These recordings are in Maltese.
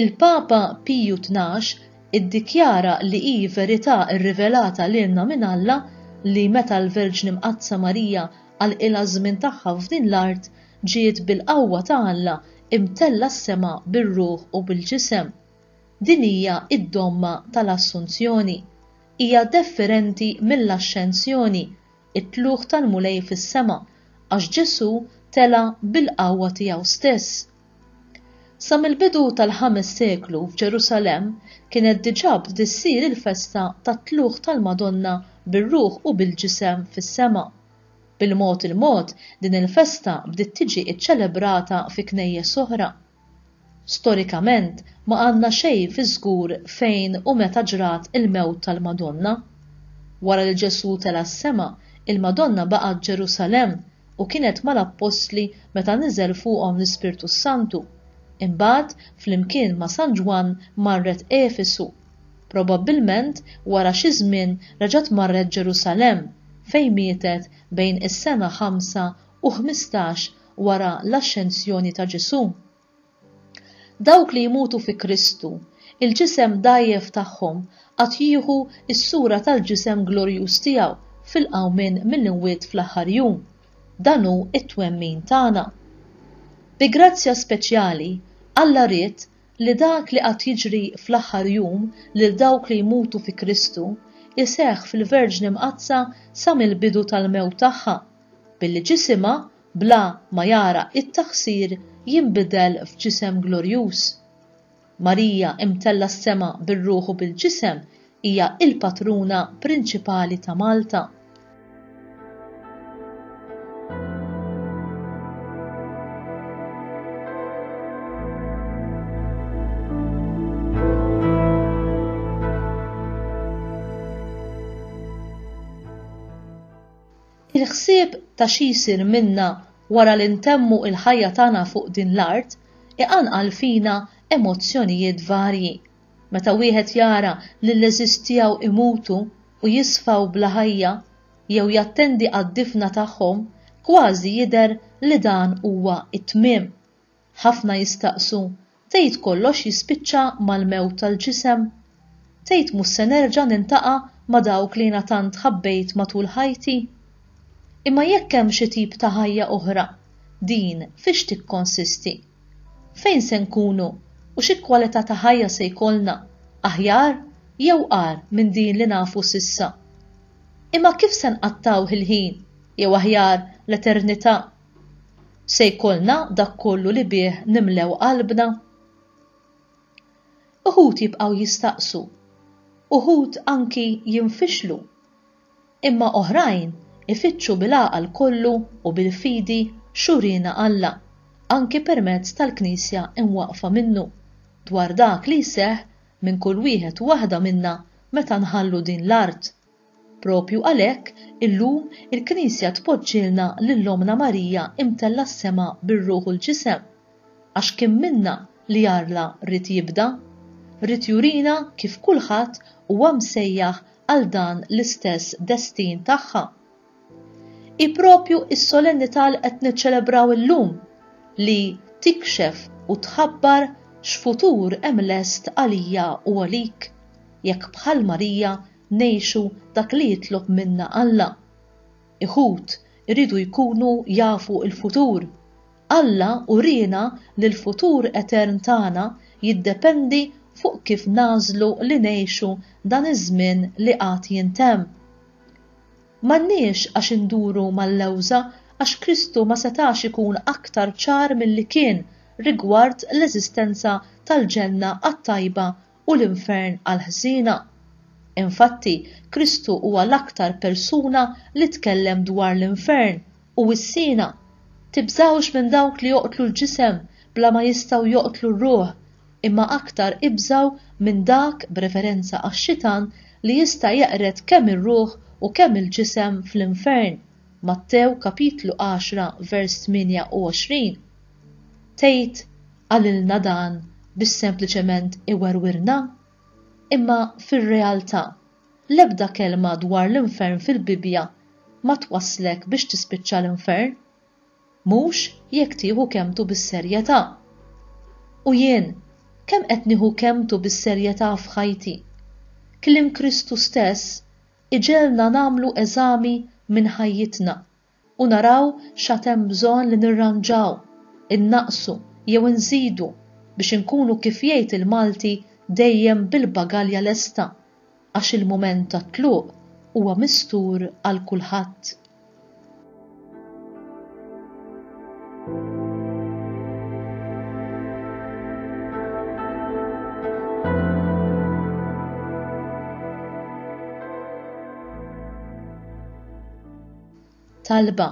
Il-Papa Piju Tnax iddikjara li hi verità rrivelata lilna minn Alla li meta l-Verġni Mqaddsa Marija għalqilha ż-żmien tagħha f'din l-art, ġiet bil-qawwa ta' Alla imtellgħa s-sema bir-ruħ u bil-ġisem. Din hija d-domma tal-Assunzjoni. Hija defferenti mill-Axxensjoni, it-tlugħ tal-Mulej fis-sema, għax Ġesù tela' bil-qawwa tiegħu stess. Sa mill-bidu tal-ħames seklu f'Ġerusalemm kienet diġà bdiet ssir il-festa tat-tlugħ tal-Madonna bir-ruħ u bil-ġisem fis-sema. Bil-mod il-mod din il-festa bdiet tiġi ċċelebrata fi knejjes oħra. Storikament ma għandna xejn fiż-żgur fejn u meta ġrat il-mewt tal-Madonna. Wara li Ġesù tela' s-sema, il-Madonna baqgħet Ġerusalemm u kienet mal-appostli meta niżel fuqhom l-Ispirtu s-Santu. Imbagħad, flimkien ma' San Ġwann marret Efesu. Probabbilment wara xi żmien reġgħet marret Ġerusalemm, fejn mietet bejn is-sena ħamsa u ħmistax wara l-Axxenzjoni ta' Ġesù. Dawk li jmutu fi Kristu, il-ġisem dgħajjef tagħhom għad jieħu s-sura tal-ġisem glorjuż tiegħu fil-qawmien mill-imwiet fl-aħħar jum. Dan hu t-twemmin tagħna. Bi grazzja speċjali, Alla ried li dak li għad jiġri fl-aħħar jum lil dawk li jmutu fi Kristu jseħħ fil-Verġni Mqaddsa sa mill-bidu tal-mewt tagħha, billi ġisimha bla ma jara t-taħsir jinbidel f'ġisem glorjuż. Marija imtella s-sema bir-ruħ u bil-ġisem hija l-patruna prinċipali ta' Malta. Il-ħsieb ta' xi jsir minna wara li ntemmu l-ħajja tagħna fuq din l-art iqanqal fina emozzjonijiet varji. Meta wieħed jara lill-għeżież tiegħu jmutu u jisfaw bla ħajja, jew jattendi għad-difna tagħhom, kważi jidher li dan huwa t-tmiem. Ħafna jistaqsu, Tgħid kollox jispiċċa mal-mewt tal-ġisem? Tgħid mhux se nerġa' nintaqa' ma' dawk li jiena tant ħabbejt matul ħajti? Imma jekk hemm xi tip ta' ħajja oħra, din fiex tikkonsisti? Fejn se nkunu u xi kwalità ta' ħajja se jkollna, aħjar jew agħar minn din li nafu s'issa? Imma kif se nqattgħu il-ħin, jew aħjar l-eternità, Se jkollna dak kollu li bih nimlew qalbna? Uħud jibqgħu jistaqsu, uħud anki jinfixlu, imma oħrajn ifittxu bil-għaqal kollu u bil-fidi x'uriena Alla, anki permezz tal-Knisja imwaqqfa minnu, dwar dak li jseħħ minn kull wieħed u waħda minna meta nħallu din l-art. Proprju għalhekk, illum, il-Knisja tpoġġilna lil Ommna Marija imtellgħa s-sema bir-ruħ u l-ġisem, għax kien minnha li Alla ried jibda. Ried jurina kif kulħadd huwa msejjaħ għal dan l-istess destin tagħha. Hi proprju s-solennità li qed niċċelebraw illum li tikxef u tħabbar x'futur hemm lest għalija u għalik, jekk bħal Marija ngħixu dak li jitlob minna Alla. Iħud iridu jkunu jafu l-futur. Alla uriena li l-futur etern tagħna jiddependi fuq kif nagħżlu li ngħixu dan iż-żmien li għad jintemm. M'għandniex għax induru mal-lewża għax Kristu ma setax ikun aktar ċar milli kien rigward l-eżistenza tal-ġenna għat-tajba u l-infern għall-ħżiena. Infatti, Kristu huwa l-aktar persuna li tkellem dwar l-infern u s-siena, Tibżgħux minn dawk li joqtlu l-ġisem bla ma jistgħu joqtlu r-ruħ, imma aktar ibżgħu minn dak b'referenza għax-xitan li jista' jeqred kemm ir-ruħ u kemm il-ġisem fl-infern, Mattew kapitlu għaxra vers tmienja u għoxrin. Tgħid, Qalilna dan biex sempliċement iwerwirna? Imma fir-realtà, l-ebda kelma dwar l-infern fil-Bibbja ma twasslek biex tispiċċa l-infern. Mhux jekk tieħu kelmtu bis-serjetà. U jien, kemm qed nieħu kelmtu bis-serjetà f'ħajti? Kliem Kristu stess iġegħelna nagħmlu eżami minn ħajjitna u naraw x'għad hemm bżonn li nirranġaw, innaqqsu jew inżidu biex inkunu kif jgħid il-Malti dejjem bil-bagalja lesta għax il-mument tat-tluq huwa mistur għal kulħadd. Talba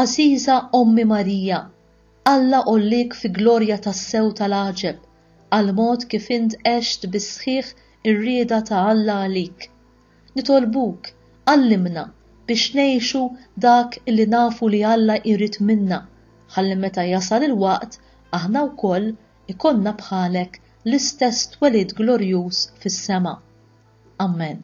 Għażiża Ommi Marija, Alla għolliek fi glorja tas-sew tal-għaġeb, għall-mod kif int għext bis-sħiħ ir-rieda ta' Alla għalik. Nitolbuk, għallimna biex ngħixu dak li nafu li Alla jrid minna, ħalli meta jasal il-waqt aħna wkoll ikollna bħalek l-istess twelid glorjuż fis-sema. Ammen.